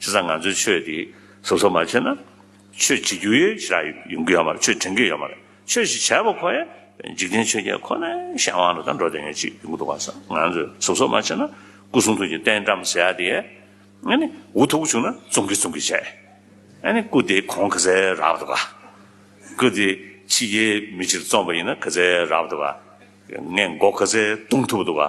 ཞེ་སང་ང་ཚོའི་ཆོས་དེ་ཟུར་ཟ་མ་བྱེད་ན། ཆོས་བྱེད་རྒྱུ་ཡོད་ཞེ་རག་ཡོང་གི་ཡོད་མ་རེད་ཆོས་དྲན་གི་ཡོད་མ་རེད་ཆོས་ཞིག་བྱས་པ་ཁོ་ཡ་འཇིག་རྟེན་ཆོས་བརྒྱད་ཁོ་ནའི་གཞན་དབང་ལ་ད་འགྲོ་དེ་ཡོད་ཅིག་ཡོང་གི་འདུག་བ་སང་ང་ཚོས་ཟུར་ཟ་མ་བྱེད་ན་སྐུ་གསུང་ཐུགས་ཀྱི་རྟེན་བཀྲམ་ཟེ་ཡ་དེ་ཡས་ཨ་ནི་འུ་ཐུག་བྱུང་ན་བཙོང་གི་བཙོང་གི་བྱས་ཨ་ནི་སྐུ་དེ་གོང་གི་ཟེ་རག་འདུག་བ་སྐུ་དེ་ཕྱི་རྒྱལ་མི་ཕྱིར་བཙོང་པ་ཡིན་ན་གི་ཟེ་རག་འདུག་བ་ངས་མགོ་གི་ཟེ་བརྡུང་ཐུབ་འདུག་བ།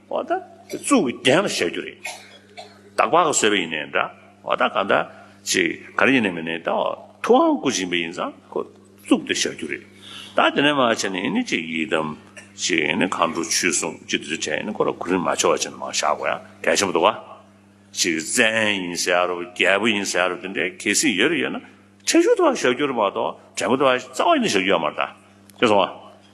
བ་ད་གཙུག་གི་གདན་ལ་བཞག་རྒྱུ་རེད། དྭགས་པ་ག་བཟོས་པ་ཡིན་ནའི་འདྲ། བ་ད་གང་ད་ཅི་ག་རེ་ཡིན་ནའི་མིན་ནའི་ད་ཐུ་དབང་སྐུ་བྱིན་པ་ཡིན་ཙང་ཁོ་གཙུག་དེ་བཞག་རྒྱུ་རེད། ད་དེ་ནས་མ་བྱས་ནས་ཡིན་ནའི་ཅི་ཡིད་དམ། ཅི་ཡིན་ནའི་གང་འགྲོ་ཆུད་སོང་ཅི་དེ་ཚོ་བྱས་ནའི་ཁོ་ར་གུ་རིན་མ་ཆོག་བ་བྱས་ནའི་མ་བཞག་གོ་ཡ་གལ་ཆེན་པོ་འདུག་བ། ཅི་བཙན་ཡིན་ཟེར་ཡ་རུ་རྒྱལ་པོ་ཡིན་ཟེར་ཡ་རུ་དེ་འདྲའི་གལ་སྲིད་ཡོད་རེ་ཡོད་ན་ཁྲེལ་ཤུག་དེ་བ་བཞག་རྒྱུ་རེད་མ་གཏོགས་དྲེན་པོ་དེ་བ་རྩ་བ་ཡིན་ན་བཞག་རྒྱུ་ཡ་མ་རེད་ད། ཤེས་སོང་བ།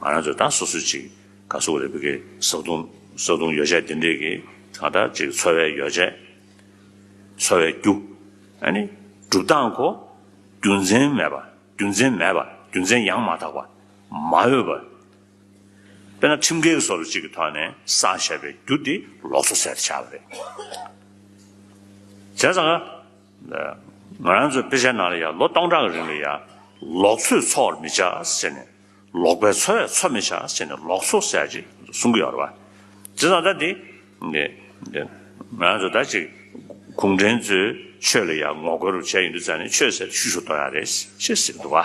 ང་རང་ཚོས་ད་སོ་སོས་ཅིག་ག་གསོ་གི་རེད་བོད་དགེ་བཟའ་བཏུང་བཟའ་བཏུང་ཡོ་བྱད་དེ་འདྲས་ཀྱི་གང་དྲག་ཅིག་འཚོ་བའི་ཡོ་བྱད་འཚོ་བའི་རྒྱུ་ཨ་ནི་སྒྲུབ་སྟངས་གོ་རྒྱུ་མཚན་མེད་པ་རྒྱུ་མཚན་མེད་པ་རྒྱུ་མཚན་ཡང་མ་དག་པ་མ་འོས་པ། དཔེར་ན་ཁྲིམས་འགལ་གྱི་སོར་ཅིག་གི་ཐོག་ནས་བསགས་བྱས་པའི་རྒྱུ་དེ་ལོག་འཚོ་ཟེར་བྱ་བ་རེད། བྱས་ཙང་ང། ང་རང་ཚོའི་དཔེ་ཆའི་ནང་ལ་ཡང་ལོ་སྟོང་ཕྲག་གི་རིང་ལ་ཡང་ལོག་འཚོས་འཚོ་བར་མི་བྱ་ཟེར་ནས། ལོག་པའི་འཚོ་བས་འཚོ་མི་བྱ་ཟེར་ནས་ལོག་འཚོ་ཟེར་ཡག་ཅིག་གསུང་གི་ཡོད་རེད་བ། དེ་དང་ད་དེ། ང་རང་ཚོ་ད་ཅིག་གུང་ཁྲན་ཚོའི་ཆོས་ལ་ཡང་ངོ་རྒོལ་རུ་བྱས་ཡོད་འདུག་ཙང་ནས་ཆོས་ཟེར་ཤུ་ཤུ་གཏོང་ཡག་རེད་ཤེས་ཟེར་གི་འདུག་བ།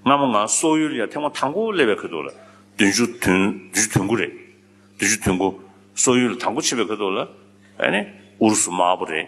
སྔ་མོ་ང་སོག་ཡུལ་ལ་ཡང་ཐེངས་མང་དང་པོ་སླེབས་པའི་ཁོད་འདུག་ལ་བདུན་ཅུ་དོན་བདུན་ཅུ་དོན་དགུ་རེད། བདུན་ཅུ་དོན་དགུ། སོག་ཡུལ་ལ་དང་པོ་ཕྱིན་པའི་ཁོད་འདུག་ལ། ཨ་ནི་ཨུ་རུ་སུ་དམར་པོ་རེད།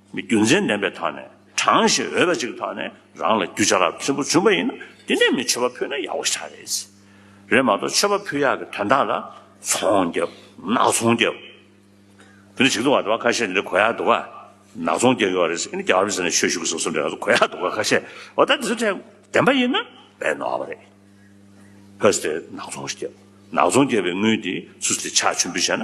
མི་རྒྱུ་མཚན་ལྡན་པའི་ཐོག་ནས་དྲང་ཞིང་འོས་པ་ཅིག་གི་ཐོག་ནས་རང་ལ་རྒྱུ་ཆ་རགས་ཕན་པོ་བྱུང་པ་ཡིན་ན་དེ་ནས་མི་ཆོས་པ་ཕུད་ན་ཡག་པོ་ཆགས་རེད། རེད་མ་གཏོགས་ཆོས་པ་ཕུད་ཡག་གི་དོན་དག་ལ་ཚོང་རྒྱབ་ནག་ཚོང་རྒྱབ། དེ་ནས་ཞིག་འདུག་བ་དེ་བ་ཁ་ཤས་འདི་འདྲ་གོ་ཡག་འདུག་ག་ནག་ཚོང་རྒྱབ་ཡོད་རེད་ཨི་ནི་རྒྱ་གར་མི་ཟེར་ནས་ཆོས་ཞུ་གི་ཟེར་སོང་འདྲ་ང་ཚོ་གོ་ཡག་འདུག་ག་ཁ་ཤས་འོ་ད་དེ་ཚོ་ཐད་བདེན་པ་ཡིན་ན་བས་ནོར་བ་རེད། ཕོས་དེ་ནག་ཚོང་རྒྱབ་ནག་ཚོང་རྒྱབ་པའི་དངུལ་དེ་ཚུ་དེ་ཆགས་ཆུན་པོ་བྱས་ན།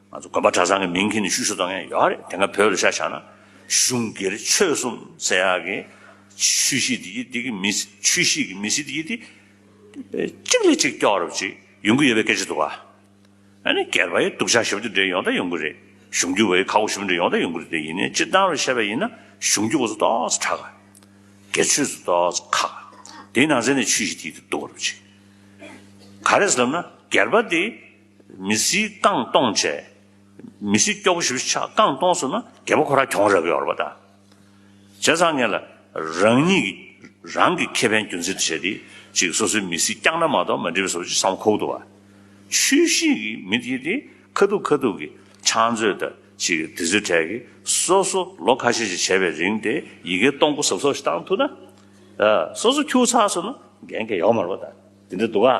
ང་ཚོ་དགོན་པ་གྲྭ་ཚང་གི་མིང་གིས་ནི་ཤུ་ཤུ་དང་ཡང་ཡོད་རེད་དེ་སྔ་བོད་ལ་ཤ་ཤ་ན་གཞུང་སྒེར་ཆོས་གསུམ་ཟེར་ཡག་གི་ཆུ་བཞི་དེ་གྱིས་དེ་གི་མི་སྲིད་ཆུ་བཞི་གི་མི་སྲིད་དེ་གྱིས་དེ་གཅིག་ལས་གཅིག་སྐྱོ་རུབ་ཅིག་ཡོང་གི་ཡོད་པའི་སྐད་ཆ་འདུག་ཨ་ནི་སྒེར་པ་ཡི་སྡུག་ཆ་ཞིབ་ཏུ་འདྲེས་ཡོང་ད་ཡོང་གི་རེད་གཞུང་རྒྱུ་བ་ཡི་ཁ་སྒོ་ཞིབ་འདྲེས་ཡོང་ད་ཡོང་གི་རེད་དེ་ཡིན་ནའི་སྤྱིར་བཏང་རུ་བཤད་པ་ཡིན་ན་གཞུང་རྒྱུ་བ་ཚོ་ཏོག་ཙ་ཁྲག་ག་སྒེར་ཆོས་ཚོ་ཏོག་ཙ་ཁག་ག་དེ་ནང་ཚན་ནས་ཆུ་བཞི་དེ་གྱིས་དེ་སྡུག་རུབ་ཅིག་ག་རེད་ཟེར་ལབ་ན་སྒེར་པ་དེ། མི་སྲིད་རྐང་སྟོང་བྱས། མི་སྲིད་སྐྱོ་བོ་ཞིབ་ཆགས་རྐང་སྟོང་སོང་ན་རྒད་པོ་ཁོ་རང་གྱོང་རག་གི་ཡོད་རེད་པ་ད། བྱས་ཙང་ངས་ལ་རང་ཉིད་ཀྱི་རང་གི་ཁེ་ཕན་རྒྱུན་འཛིན་དུ་བྱས་ཏེ་ཅིག་སོ་སོའི་མི་སྲིད་བསྐྱངས་ན་མ་གཏོགས་མ་འགྲིག་པས་སོ་ཅིག་བསམ་ཁོག་ཏུ་བ། ཆུ་ཤིང་གི་མི་དེ་དེ་ཁ་ཐུག་ཁ་ཐུག་གི་ཆང་མཛོད་ད་ཅིག་དེ་ཚོའི་གྲས་ཀྱི་སོ་སོ་ལོ་ཁ་ཤས་ཅིག་བྱས་པའི་རིང་དེ་ཡི་གེ་སྟོང་སྐུ་ཟབ་སོགས་ཞིག་བཏང་ཐུག་ན། སོ་སོ་ཁྱུག་ཚར་སོང་ན་འགན་ཁེ་ཡོག་མ་རེད་པ་ད། དེ་འདྲ་འདུག་ག།